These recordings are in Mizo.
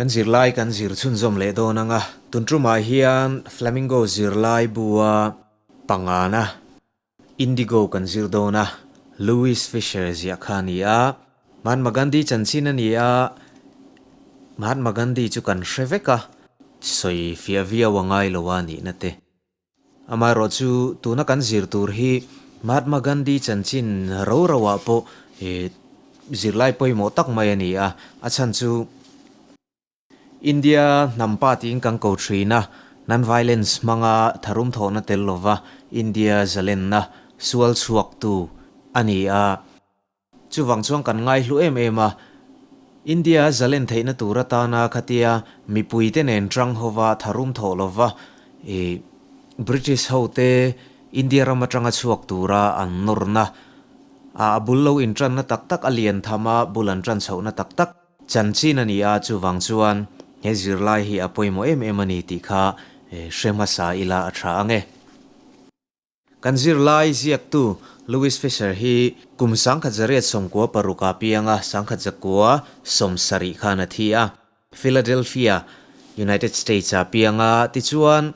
Kan zirlai kan zir chhunzawm leh dawn ang a, tunṭumah hian Flamingo zirlai bua pangana Indigo kan zir dawn a, Louis Fisher ziah kha a ni a, Mahatma Gandhi chanchin a ni a, Mahatma Gandhi chu kan hre vek a, sawi fiah viau a ngai lo a nihna te. Amaherawh chu tuna kan zir tur hi Mahatma Gandhi chanchin ro ro ah pawh zirlai pawimawh tak mai a ni a, a chhan chu India hnam patin kan ko thin a, non-violence hmanga tharum thawhna tel lova India zalenna sual chhuak tu a ni a. Chuvang chuan kan ngaihlu em em a, India zalen theihna tur atana khatia mipuite nen tang hova tharum thawh lo va, i British hote India ram atanga chhuak tura an nawrna, a a bul lo intanna tak tak a lian tham a, bul an tan chhohna tak tak chanchin a ni a, chuvang chuan he zirlai hi a pawimawh em em a ni tih kha hre hmasa ila a tha ange. Kan zirlai ziaktu Louis Fisher hi kum sangkhat zariat sawmkua paruk a piang a, sangkhat zakua sawm sarih khan a thi a. Philadelphia, United States a piang a, tichuan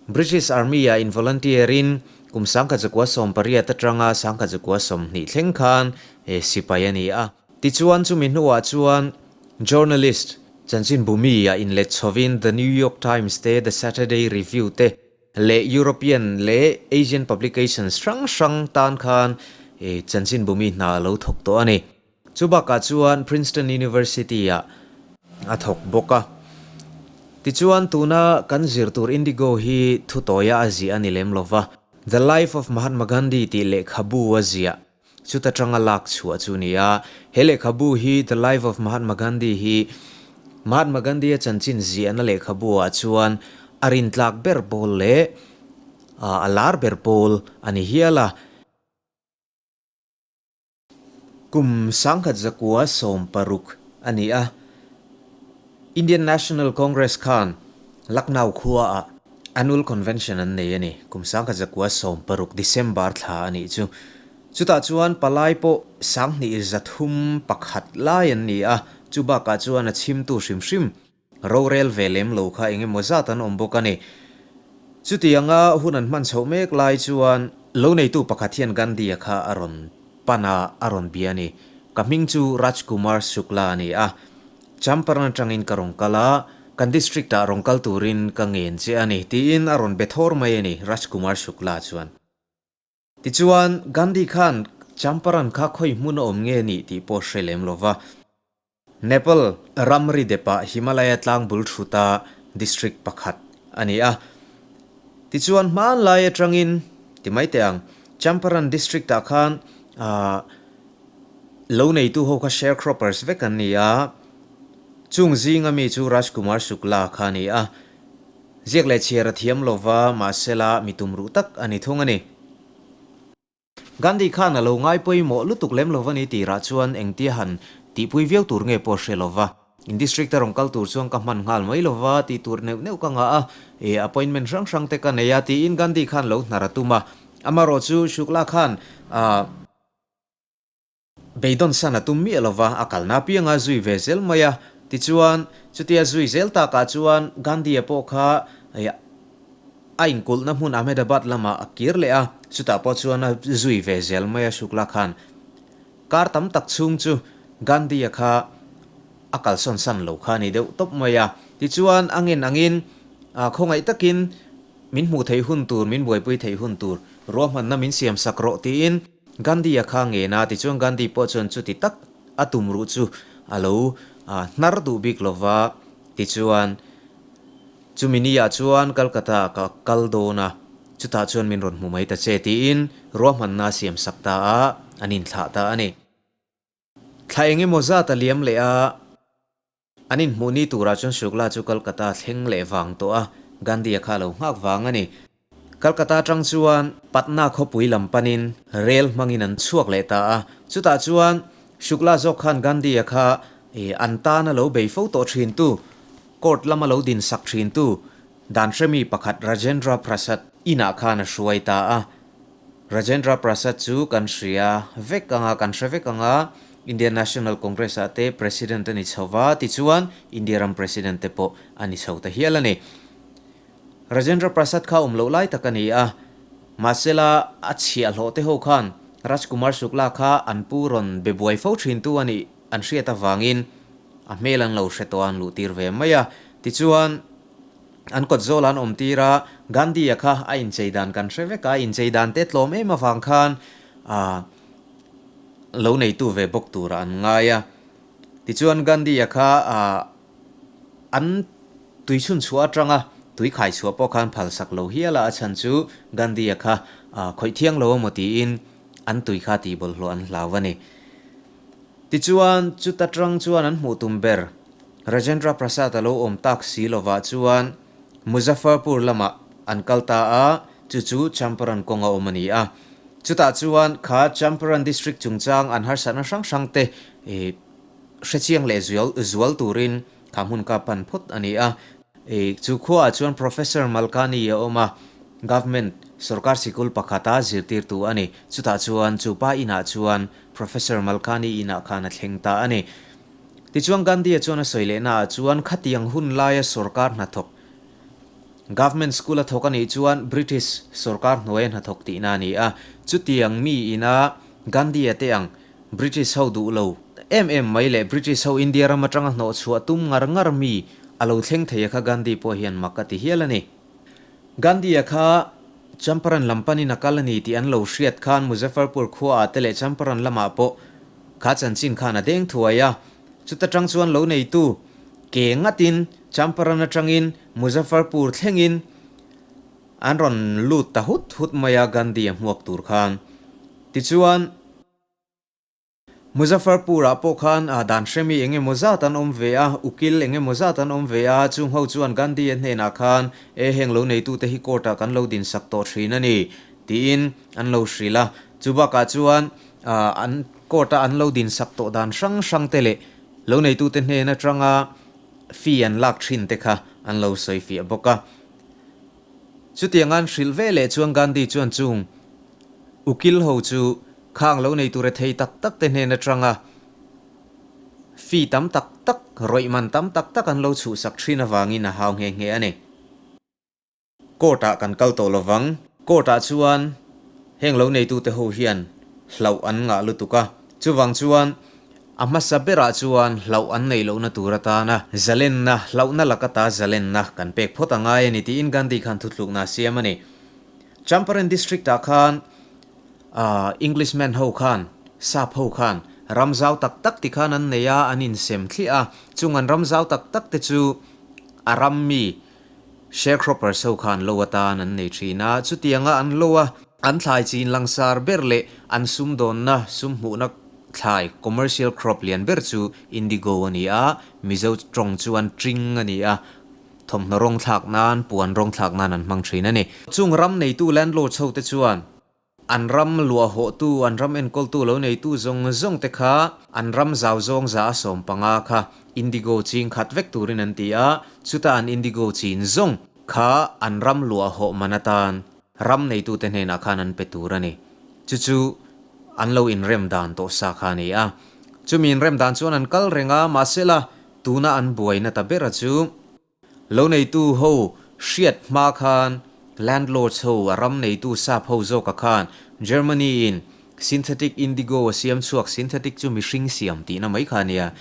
British Army-ah involunteer-in kum sangkhat zakua sawm pariat atanga sangkhat zakua sawm hnih thleng khan sipai a ni a. Tichuan chumi hnuah chuan journalist chanchin bumi-ah inlet chhovin The New York Times te The Saturday Review te, leh European leh Asian publications hrang hrang tan khan Chanchin Bumi hna a lo thawk tawh a ni. Chu bakah chuan Princeton University-ah a thawk bawk a. Tichuan tuna kan zir tur Indigo hi thutawia a ziah a ni lem lo va. The Life of Mahatma Gandhi tih lehkhabu a ziah. Chuta tanga lak chhuah chu ni a. He lehkhabu hi The Life of Mahatma Gandhi hi Mahatma Gandhi-a chanchin ziahna lehkhabuah chuan a rin tlak ber pawl leh a lar ber pawl a ni hial a. Kum sangkhat zakua sawm paruk a ni a. Indian National Congress khan Lucknow khua ah Annual Convention an nei a ni. Kum sangkhat zakua sawm paruk, December, thla a nih chu. Chutah chuan palai pawh sang hnihil zathum pakhat lai an ni a, chu bakah chuan a chhimtu hrim hrim rorel ve lem lo kha eng emaw zat an awm bawk a ni. Chuti anga hun an hman chhoh mek lai chuan lo neitu pakhat hian Gandhi-a kha a rawn pan a, a rawn bia a ni. Ka hming chu Rajkumar Shukla a ni a. Champaran atangin ka rawn kal a, kan district-ah rawn kal turin ka ngen che a ni, tiin a rawn be thawr mai a ni Rajkumar Shukla chuan. Tichuan, Gandhi khan Champaran kha khawi hmun a awm nge ni tih pawh hre lem lo va. Nepal ramri depah Himalaya tlangbul thuta district pakhat a ni a. Tichuan, hmanlai atangin ti mai teh ang, Champaran district-ah khan aa, Lo neitu ho kha sharecroppers vek an ni a, chung zinga mi chu Rajkumar Shukla kha a ni a. Ziak leh chhiar a thiam lo va, mahse la mi tumruh tak a ni thung a ni. Gandhi khan a lo ngai pawimawh lutuk lem lo va ni tirah chuan engtia han tihpui viau tur nge pawh hre lo va, in district a rawn kal tur chuan ka hman nghal mai lo va tih tur neuh neuh ka ngah a, e appointment hrang hrang te ka nei a, tiin Gandhi khan lo hnar a tum a. Amarawhchu Shukla khan a. Beidawn san a tum miah lova a kalna apianga zui ve zel mai a. Tichuan, chutia zui zel takah chuan Gandhi-a pawh kha a inkulhna hmun Ahmedabad lamah a kir leh a. Chutah pawh chuan a zui ve zel mai a Shukla khan. Kar tam tak chhung chu Gandhi-a kha a kalsawn san lo kha a ni deuh tawp mai a. Tichuan a ngen angin khawngaih takin Min hmuh theih hun tur, min buaipui theih hun tur ruahmanna min siam sak rawh tiin Gandhi a kha ngen a, tichuan Gandhi pawh chuan chuti tak a tumruh chu a lo hnar duh bik lo va, tichuan chumi ni ah chuan Calcutta ah ka kal dawn a, chutah chuan min rawn hmu mai ta che tiin ruahmanna a siam sak ta a, an inthlah ta a ni. Thla eng emaw zat a liam leh a, an inhmuhni turah chuan Shukla chu Kolkata a thleng leh vang tawh a, Gandhi a kha lo nghak vang a ni. Kolkata atang chuan Patna khawpui lam panin rel hmangin an chhuak leh ta a, chutah chuan Shukla zawk khan Gandhi a kha an tan a lo bei fo tawh thintu, court lam a lo din sak thintu, dan hremi pakhat Rajendra Prasad inah khan a hruai ta a. Rajendra Prasad chu kan hria vek anga kan hre vek anga Indian National Congress ah te President a ni chho va tichuan India ram President te pawh a ni chho ta hial a ni. Rajendra Prasad kha awm loh lai tak a ni a, mahsela a chhiah hlawh te ho khan Rajkumar Shukla kha an pu rawn be buai fo thin tu a nih an hriat avangin a hmel an lo hre tawh a an luh tir ve mai a, tichuan An kawt zawlah an awm tir a, Gandhi-a kha a inchei dan kan hre vek a, a inchei dan te tlawm em avang khan aa lo neitu ve bawk tura an ngai a. Tichuan Gandhi-a kha aa an tui chhun chhuah atanga tui khai chhuah pawh khan phalsak lo hial a, a chhan chu Gandhi-a kha aa khawih thiang lo a maw tiin an tui kha tihbawlhhlawh an hlau a ni. Tichuan chuta tang chuan an hmuh tum ber Rajendra Prasad a lo awm tak si lovah chuan Muzaffarpur lamah an kal ta a, chu chu Champaran kawng a awm a ni a. Chutah chuan kha Champaran District chungchang an harsatna hrang hrang te hrechiang leh zual zual turin kha hmun kap pan phawt a ni a. Chu khuaah chuan Professor Malkani a awm a, Government sawrkar sikul pakhata zirtirtu a ni. Chutah chuan chu pa inah chuan Professor Malkani inah khan a thleng ta a ni. Tichuan Gandhi-a chuan a sawi lehnaah chuan khatiang hun laia sorkar hnathawk, Government School a thawk a nih chuan British sorkar hnuaia hnathawk tihna a ni a. Chutiang mi ina Gandhi-a te ang British ho duh lo em em mai leh British ho India ram atanga hnawh chhuah tum ngar ngar mi a lo thleng theia kha Gandhi pawh hian mak a ti hial a ni. Gandhi-a kha Champaran lam panin a kal a ni tih an lo hriat khan Muzaffarpur khuaah te leh Champaran lamah pawh kha chanchin khan a deng thuai a. Chuta tang chuan lo neitu ke ngatin Champaran atangin Muzaffarpur thlengin an rawn lut ta hut hut mai a Gandhi-a hmuak tur khan. Tichuan. Muzaffarpur-ah pawh khan dan hremi eng emaw zat an awm ve a, ukil eng emaw zat an awm ve a, chung ho chuan Gandhi-a hnenah khan E heng lo neitute hi court-ah kan lo dinsak tawh thin a ni, tiin an lo hrilh a. Chu bakah chuan an court-a an lo dinsak tawh dan hrang hrangte leh lo neitute hnen atanga fee an lak thinte kha an lo sawi fiah bawk a. Chutianga'n hrilh ve leh chuan Gandhi chuan chung ukil ho chu khang lo nei tura thei tak tak te hnen atanga fee tam tak tak, rawihman tam tak tak an lo chhuhsak thin avangin a hau nghe nghe a ni. Court ah kan kal tawh lo vang. Court ah chuan heng lo neitute ho hian hlauh an ngah lutuk a, chuvang chuan A hmasa berah chuan hlauh an nei lohna tur atana zalenna, hlauhna lak ata zalenna kan pek phawt a ngai a ni tiin Gandhi khan thuthlukna a siam a ni. Champaran District ah khan aah English man ho khan, sap ho khan ram zau tak tak ti khan an nei a, an insem thliah a, chung an ram zau tak tak te chu a ram mi, Sharecropper so kha an lo atan an nei thin a, chutianga an lo a, an thlai chin langsar ber leh an sum dawnna, sum hmuhna thlai, commercial crop, lian ber chu indigo a ni a, Mizo tawng chuan tring a ni a, thawmhnaw rawng thlak nan, puan rawng thlak nan an hmang thin a ni. Chung ram neitu landlord chote chuan. An ram luahawhtu, an ram enkawltu lo neitu zawng zawng te kha an ram zau zawng za a sawm panga kha indigo ching khat vek turin an ti a, chuta an indigo chin zawng kha an ram luahawh man atan ram neitute hnenah khan an pe tur a ni. Chu chu an lo inrem dan tawh sa kha a ni a, chumi inrem dan chuan an kal reng a, mahsela tuna an buaina ta bera chu, Lo neitu ho hriat hma khan landlords ho a ram neitu sap ho zawka khan Germany in synthetic indigo a siam chhuak synthetic chu mihring siam tihna mai kha nia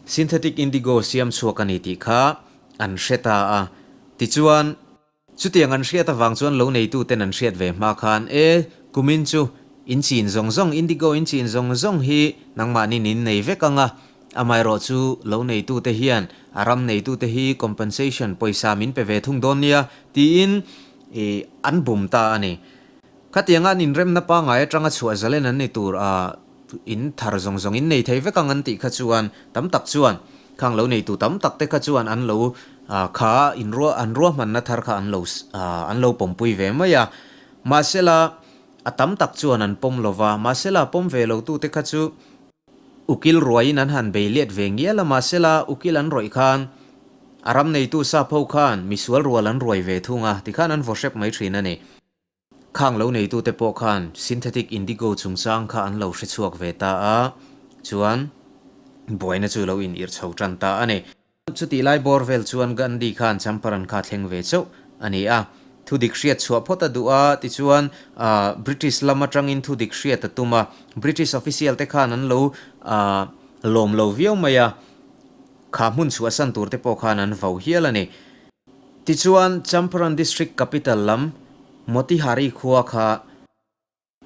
synthetic indigo siam chhuak a ni tih kha an hre ta a tichuan Chutiang an hriat avang chuan lo neituten an hriat ve hma khan, E, kumin chu in chin zawng zawng, indigo in chin zawng zawng hi nangmahnin in nei vek ang a, amaherawh chu lo neitute hian a ram neitute hi compensation, pawisa min pe ve thung dawn nia, tiin an bum ta a ni. Khatianga an inremna pangai atanga chhuah zalen an ni tur a. in thar zawng zawng in nei thei vek ang an tih kha chuan tam tak chuan khang lo nei tu tam tak te kha chuan an lo kha in ruah an ruahman na thar kha an lo an lo pawm pui ve mai a mahse la a tam tak chuan an pawm lo va mahse la pawm ve lo tu te kha chu ukil ruai in an han bei let ve ngial a mahse la ukil an rawih khan a ram nei tu sapho khan misual rual an ruai ve thung a ti khan an vaw hrep mai thin a ni. Khang lo neitute pawh khan synthetic indigo chungchang kha an lo hrechhuak ve ta a, chuan buaina chu lo inirh chho tan ta a ni. Chutih lai bawr vel chuan Gandhi khan champaran kha thleng ve chauh a ni a, thu dik hriat chhuah phawt a duh a, tichuan British lam atangin thu dik hriat a tum a, British official te khan an lo lawm lo viau mai a, kha hmun chhuahsan tur te pawh khan an vau hial a ni. Tichuan, Champaran District Capital lam Motihari khua kha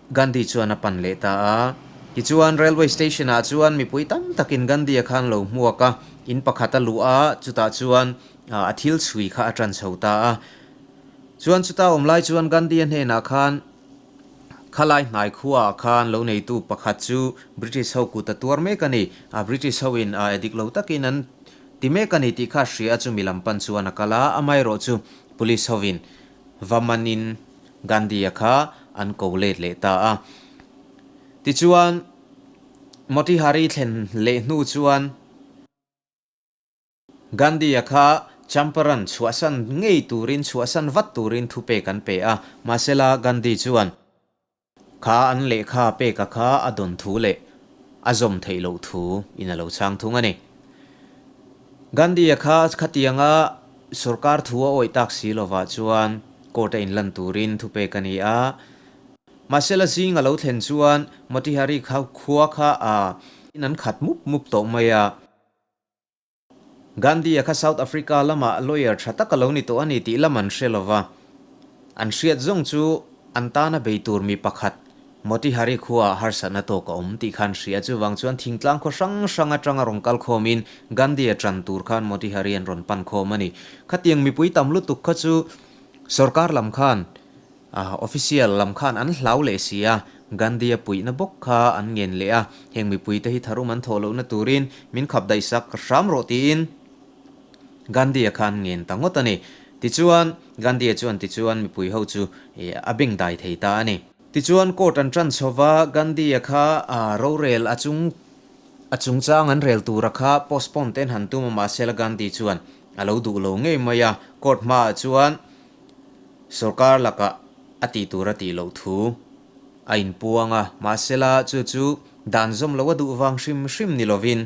Gandhi chuan a pan leh ta a. Tichuan, Railway Station ah chuan mipui tam takin Gandhi a khang lo hmuak a, in pakhat a luh a, chutah chuan a thil chhui kha a tan chho ta a. Chuan chuta awm lai chuan Gandhi a hnenah khan Khalai hnai khua ah khan lo neitu pakhat chu British ho kut a tuar mek a ni. British ho in a dik lo takin an Ti mek a ni tih kha hria chumi lam pan chuan a kal a, amaherawh chu police hovin va manin Gandhi-a kha an ko let leh ta a. Tichuan, Motihari thlen leh hnu chuan Gandhi-a kha Champaran chhuahsan ngei turin, chhuahsan vat turin thupek an pe a. Mahsela Gandhi chuan. Kha an lehkha peka kha a dawn thu leh a zawm theih loh thu in a lo chhang thung a ni. Gandhi-a kha khatianga sorkar thu a awih tak si lovah chuan court-a in lan turin thu pek a ni a. Mahse la zing a lo thlen chuan Motihari kha khua kha a in an khat mup mup tawh mai a. Gandhi-a kha South Africa lamah lawyer tha tak a lo ni tawh a ni tih lam an hre lova, an hriat zawng chu an tana bei tur mi pakhat Motihari khuaa harsatna tawk a awm tih kha an hria a, chuvang chuan thingtlang khaw hrang hrang atanga rawn kal khawmin Gandhi-a ṭan tur khan Motihari an rawn pan khawm a ni. Khatiang mipui tam lutuk kha chu sorkar lam khan. A official lam khan an hlau leh si a, Gandhi-a puihna bawk kha an ngen leh a, heng mipuite hi tharhum an thawh lohna turin min khap daihsak ka hram rawh tiin Gandhi-a khan ngen ta ngawt a ni. Tichuan, Gandhi-a chuan tichuan mipui ho chu a beng dai thei ta a ni. Tichuan court an tan chho va, Gandhi-a kha rorel a chung a chungchang an rel tura kha postpone te an han tum a, mahsela Gandhi chuan a lo duh lo ngei mai a, court hmaah chuan, Sorkar lakah a tih tur a tih loh thu a inpuang a, mahsela chu chu dan zawm lo a duh vang hrim hrim ni lovin,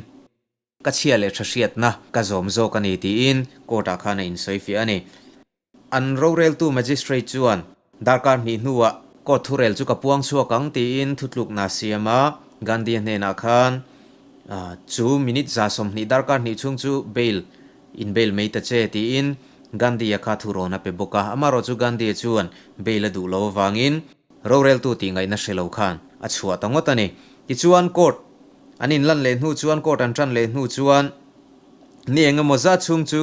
ka chhia leh tha hriatna ka zawm zawk a ni tiin court ah khan a insawi fiah a ni. An roreltu magistrate chuan darkar hnih hnuah court thurel chu ka puang chhuak ang tiin thutlukna a siam a, Gandhia hnenah khan chu minute za sawmhnih darkar hnih chhung chu bail In bail mai ta che, tiin Gandhi-a kha thu rawn a pe bawk a, amaherawh chu Gandhi-a chuan bail a duh lo avangin roreltu tih ngaihna hre lo khan a chhuah ta ngawt a ni. Tichuan court an inlan leh hnu chuan, court an tan leh hnu chuan ni eng emaw zat chhung chu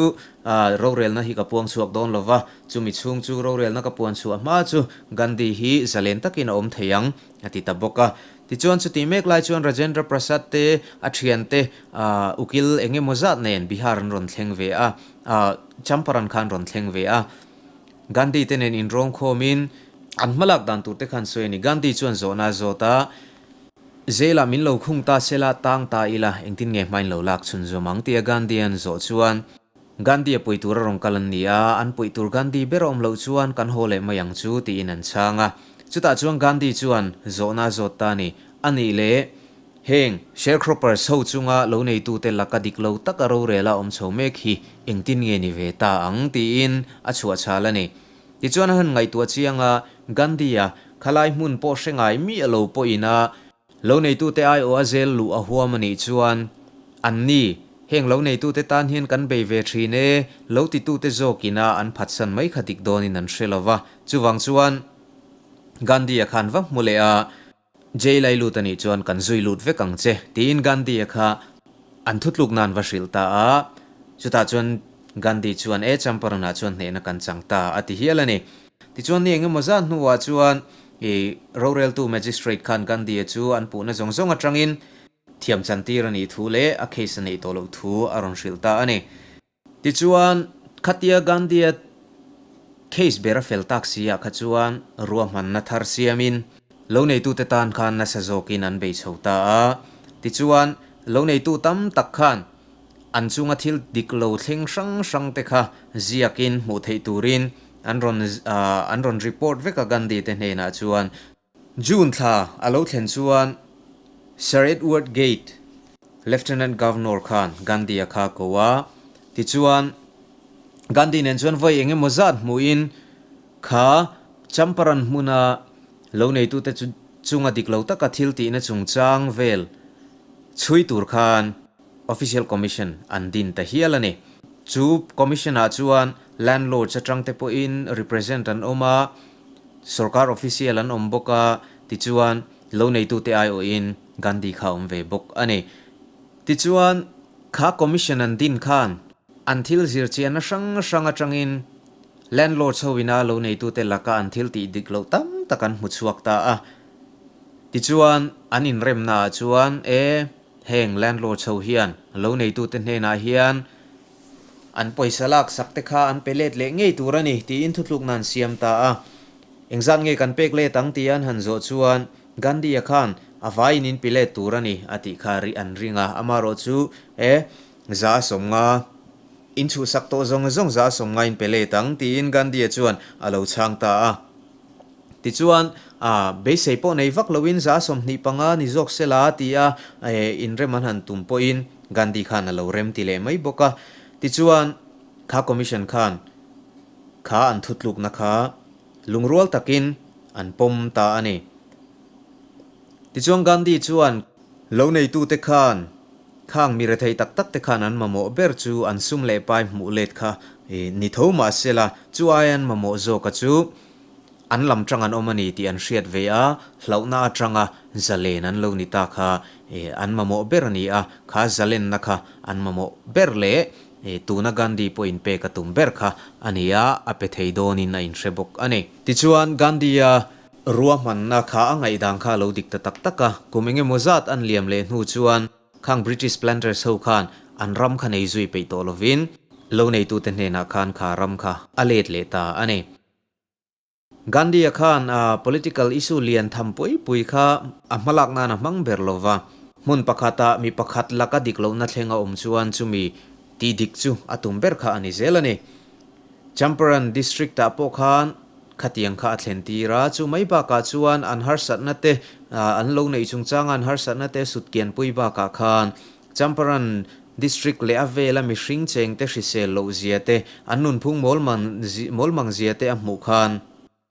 rorelna hi ka puang chhuak dawn lo va, chumi chhung chu rorelna ka puan chhuah hma chu Gandhi hi zalen takin a awm thei ang, a ti ta bawk a. Tichuan chutih mek lai chuan Rajendra Prasad te a thian te aah ukil eng emaw zat nen Bihar an rawn thleng ve a, aah Champaran kha an rawn thleng ve a. Gandhi te nen inrawng khawm in an hma lak dan tur te kha an sawi a ni. Gandhi chuan zawh na zawt a, zela min lo khung ta sela tang ta ila engtin nge hmain lo lak chhun zawm ang tia Gandhi an zawh chuan. Gandhi a puih tur a rawn kal an ni a, an puih tur Gandhi ber a awm loh chuan kan haw leh mai ang chu tiin an chhang a. Chutah chuan Gandhi chuan zawhna zawt ta ni, a nih leh, heng sharecroppers ho chunga lo neitute laka dik lo taka rorela awm chho mek hi engtin nge ni ve ta ang tiin a chhuah chhal a ni. Tichuan a han ngaihtuah chianga Gandhi-a khalai hmun pawh hrengai miah lo pawhin a, Lo neitute aiawh a zel luh a huam a nih chuan, An ni, heng lo neitute tan hian kan bei ve thin e, lo titute zawk ina an phatsan mai kha dik dawnin an hre lo va. Chuvang chuan Gandhi-a khan va hmu leh a, Jail ai lut a nih chuan kan zui lut vek ang che, tiin Gandhi-a kha an thutluk nan va hrilh ta a. Chutah chuan Gandhi chuan, E Champaran-ah chuan hnehna kan chang ta, a ti hial a ni. Tichuan ni engemaw zat hnuah chuan i roreltu Magistrate khan Gandhi-a chu an puhna zawng zawng atangin thiamchantir a nih thu leh a case a neih tawh loh thu a rawn hrilh ta a ni. Tichuan, khatia Gandhi-a case ber a fel tak si-ah kha chuan ruahmanna thar siamin lo neitute tan khan nasa zawkin an bei chho ta a. Tichuan, lo neitu tam tak khan An chunga thil dik lo thleng hrang hrangte kha ziakin hmuh theih turin an rawn an rawn report vek a Gandhi te hnenah chuan. June thla a lo thlen chuan Sir Edward Gate, Lieutenant Governor khan Gandhi a kha ko a, tichuan Gandhi nen chuan vawi eng emaw zat hmuhin kha Champaran hmuna lo neitute chu chunga dik lo taka thiltihna chungchang vel chhui tur khan, Official Commission an din ta hial a ni. Chu Commission ah chuan Landlords atang te pawhin represent an awm a, Sorkar Official an awm bawk a, tichuan lo neitu te aiawhin Gandhi kha a awm ve bawk a ni. Tichuan kha Commission an din khan an thil zir chianna hrang hrang atangin Landlords ho ina lo neitu te laka an thil tih dik loh tam tak an hmu chhuak ta a. Tichuan an inremna ah chuan e. Heng landlord chho hian lo neitute hnenah hian an pawisa lak sak te kha an pe let leh ngei tur a ni tiin thutlukna an siam ta a. Engzat nge kan pek let ang tia an han zawh chuan Gandhi-a khan a vaiin in pi let tur a ni a tih kha rih an ring a. Amaherawh chu e za a sawm nga, in chhuhsak tawh zawng zawng za a sawm nga in pe let ang tiin Gandhi-a chuan a lo chhang ta a. Tichuan, ah, beisei pawh nei vak loin za sawmhnih panga ni zawk se la ti a, eh, inrem an han tum pawhin Gandhi khan a lo rem ti leh mai bawk a. Tichuan, Kha Commission khan Kha an thutlukna kha lungrual takin an pawm ta a ni. Tichuan Gandhi chuan. Lo neitute khan. Khang mi rethei tak tak te khan an mamawh ber chu an sum leh pai hmuh let kha ni tho mah se la, chu aia an mamawh zawka chu an lam tang an awm a ni tih an hriat ve a, hlauhna atanga zalen an lo ni ta kha an mamawh ber a ni a, kha zalenna kha an mamawh ber leh tuna Gandhi pawh inpek a tum ber kha a nia a pe thei dawnin a inhre bawk a ni. Tichuan Gandhi-a. Ruahmanna kha a ngaihdang kha a lo dik ta tak tak a, kum eng emaw zat an liam leh hnu chuan khang British planters ho khan an ram kha nei zui peih tawh lovin lo neitute hnenah khan kha ram kha a let leh ta a ni. Gandhi-a khan a political issue lian tham pui pui kha a hmalak nan a hmang ber lo va, hmun pakhata mi pakhat laka dik lohna thleng a awm chuan chumi tih dik chu a tum ber kha a ni zel a ni. Champaran District ah pawh khan khatiang kha a thlen tir a, chu mai bakah chuan an harsatna te an lo neih chung changa an harsatna te sutkianpui bakah khan Champaran District leh a vela mihring chengte hrisel lohzia te an nunphung mawlmang mawlmang zia te a hmuh khan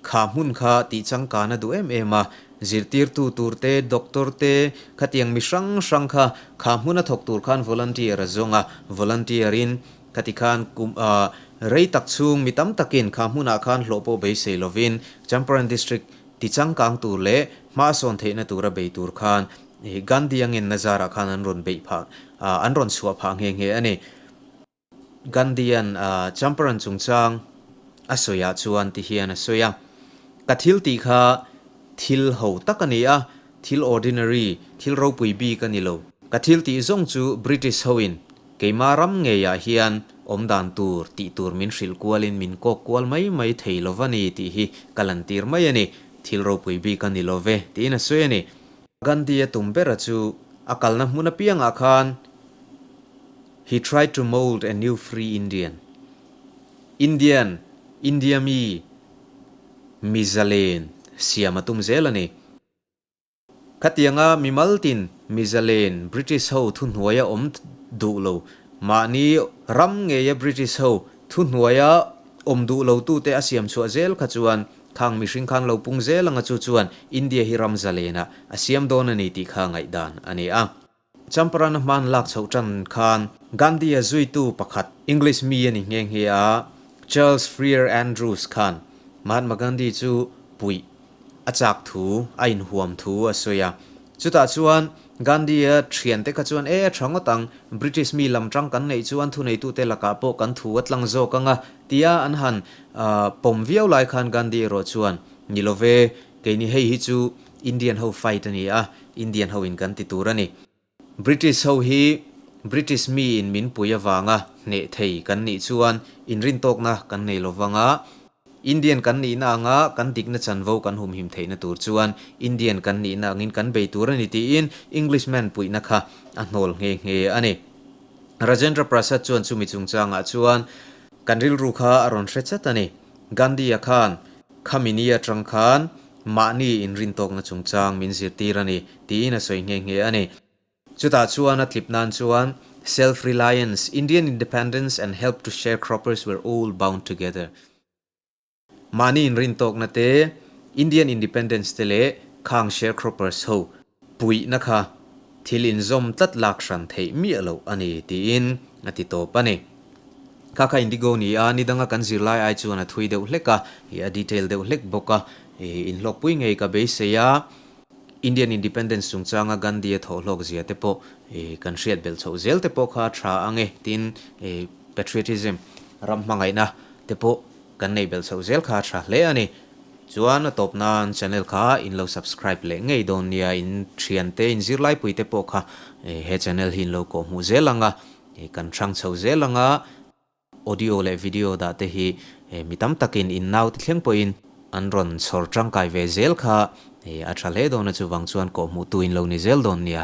Kha hmun kha tih changkan a duh em em a, zirtirtu tur te, doctor te, khatiang mi hrang hrang kha kha hmun a thawk tur khan volunteer a zawng a, volunteer in khati khan kum a rei tak chhung mi tam takin kha hmun ah khan hlawhpawh beisei lovin Champaran District ti changkang tur leh hmahsawn theihna tur a bei tur khan Gandhi a ngenna zarah khan an rawn beih phah an rawn chhuah phah nghe nghe a ni. Gandhian Champaran chungchang a sawiah chuan ti hian a sawi a, Ka thil tih kha thil ho tak a ni a, thil ordinary, thil ropui bik a ni lo. Ka thil tih zawng chu British hoin keimah ram ngeiah hian awm dan tur tih tur min hrilh kualin min kawk kual mai mai thei lo va ni tih hi ka lan tir mai a ni, thil ropui bik a ni lo ve tiin a sawi a ni. Gandhi a tum bera chu a kalna hmun apiangah khan He tried to mould a new free Indian, Indian, India mi miza len siam a tum zel a ni. Khatianga mi mal tin miza len British ho thuhnuai a awm duh lo, mahni ram ngeia British ho thuhnuai a awm duh lo tu te a siam chhuah zel kha chuan khang mihring khan lo pung zel anga chu chuan India hi ram za lena a siam dawn a ni tih kha ngaih dan a ni a. Champaran-a hmaan lak chhoh tan khan Gandhi-a zuitu pakhat English mi a ni nghe nghe a, Charles Freer Andrews khan Mahatma Gandhi chu puih a chak thu, a inhuam thu a sawi a. Chutah chuan Gandhi-a thian te kha chuan e tha ngawt ang, British mi lam tang kan neih chu an thuneitute lakah pawh kan thu a tlang zawk anga tia an han pawm viau lai khan Gandhi erawh chuan, Ni lo ve, keini hei hi chu Indian ho fight a ni a, Indian ho in kan ti tur a ni. British ho hi British mi in min pui avanga hneh thei kan nih chuan inrintawkna kan nei lo vang a, Indian kan nihna anga kan dikna chanvo kan humhim theihna tur chuan Indian kan nihna angin kan bei tur a ni tiin English man puihna kha a hnawl nghe nghe a ni. Rajendra Prasad chuan chumi chungchangah chuan kan rilru kha a rawn hre chat a ni. Gandhi-a khan. Khami ni atang khan mahni inrintawkna chungchang min zirtir a ni, tiin a sawi nghe nghe a ni. Chutah chuan a tlip nan chuan, Self reliance, Indian independence and help to sharecroppers were all bound together. Mahni inrintawkna te, Indian independence te leh khang sharecroppers ho, Puihna kha thil inzawm tlat lak hran theih miah loh a ni, tiin a ti tawp a ni. Khakha Indigo ni a, ni danga kan zirlai ai chuan a thui deuh hlek a, ih a detail deuh hlek bawk a, ih inhlawkpui ngei ka beisei a, Indian Independence chungchanga Gandhi-a thawhhlawk zia te pawh ih kan hriat belh chhoh zel te pawh kha a tha ange, tin ih patriotism, ram hmangaihna, te pawh Kan nei bel chhoh zel kha a tha hle a ni. Chuan a tawp nan channel kha in lo subscribe leh ngei dawn nia in thian te in zirlaipuii te pawh kha he channel hi in lo kawhhmuh zel ang a kan thang chho zel ang a audio leh video dah te hi mi tam tak in in naute thleng pawh in an rawn chhawr tangkai ve zel kha a tha hle dawn a chuvang chuan kawhhmuh tu in lo ni zel dawn nia.